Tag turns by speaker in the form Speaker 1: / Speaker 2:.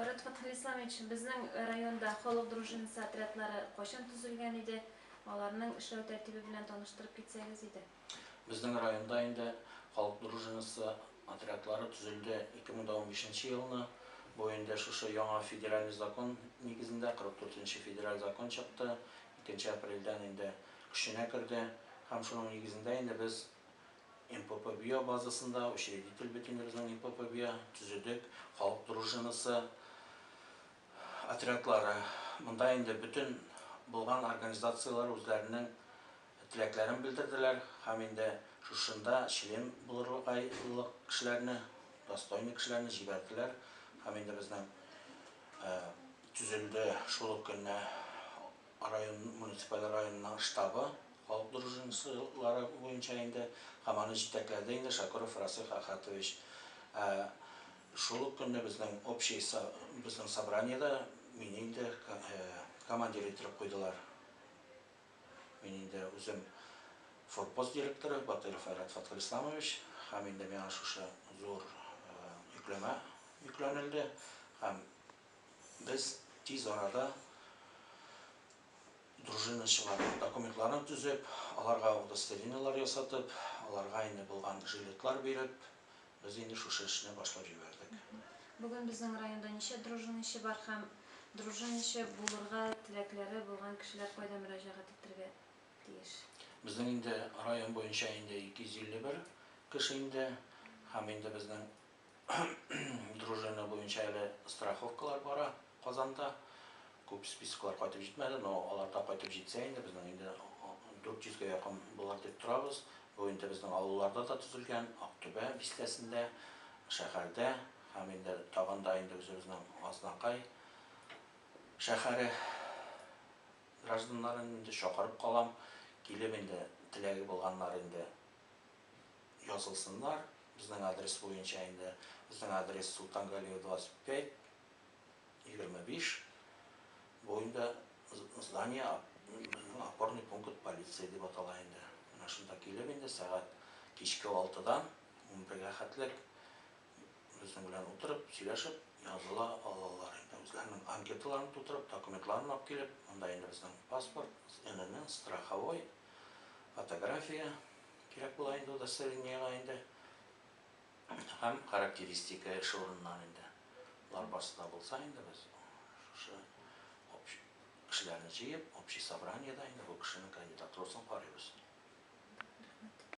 Speaker 1: Марат Фатхелисламович, безнең районда халык дружинасы отрядлары кайчан төзелгән иде? Аларның эшләү тәртибе белән таныштырып китсәгез иде. Безнең районда
Speaker 2: инде халык дружинасы отрядлары төзелде 2015 нче елны. Бу инде шушы яңа федеральный закон нигезендә, 44 нче федераль закон чыкты, икенче апрельдән инде көченә керде. Һәм шуның нигезендә инде без МПП-Био базасында учредитель бөтенебезнең МПП-Био төзедек, халык дружинасы отрядлары. Монда инде бөтен булган организацияләр үзләренең теләкләрен белдерделәр һәм инде шушында член булырлык кешеләрне, достойный кешеләрне җибәрделәр һәм инде безнең төзелде шул ук көнне Район муниципаль районының штабы, халык дружинасылары буенча инде, һәм аны җитәкләде инде Шакуров Расих Ахатович. Ә шул ук көнне безнең общий со безнең собраниедә мине инде командир иттереп куйдылар. Мин инде үзем форпост директоры Батыйров Айрат Фатхелисламович, һәм инде миңа шушы зур йөкләмә йөкләнелде, һәм. Без тиз арада дружиначыларның документларын төзеп, аларга удостоверениеләр ясатып, аларга инде булган жилетлар биреп, без инде шушы эшне башлап җибәрдек. Бүген безнең
Speaker 1: районда ничә дружиначы бар һәм дружиначы булырга теләкләре булган кешеләр кайда мөрәҗәгать итәргә тиеш? Безнең инде
Speaker 2: район буенча инде 251 кеше инде һәм инде безнең Дружина буенча әле страховкалар бара Казанда. Күп списоклар кайтып җитмәде, но алар да кайтып җитсә инде, безнең инде 400 гә якын булыр дип торабыз. Бу инде безнең авылларда да төзелгән, Актүбә бистәсендә, шәһәрдә һәм инде тагын да инде үзебезнең Азнакай шәһәре гражданнарын инде чакырып калам, килеп инде теләге булганнар инде язылсыннар безнең адрес буенча инде. Безнең адрес Султан Галиев 25, 25. Бу инде здание безнең опорный пункт полиции дип атала инде. Менә шунда килеп инде сәгать кичке 6дан 11гә хәтлек безнең белән утырып, сөйләшеп языла алалар инде. Үзләренең анкеталарын тутырып, документларын алып килеп, монда инде безнең паспорт, СНН, страховой, фотография, Кирәк була инде удостоверениега инде һәм характеристика эш урыныннан инде болар барсы да булса инде без шушы общ- кешеләрне җыеп общий собраниедә инде бу кешенең кандидатурасын карыйбыз.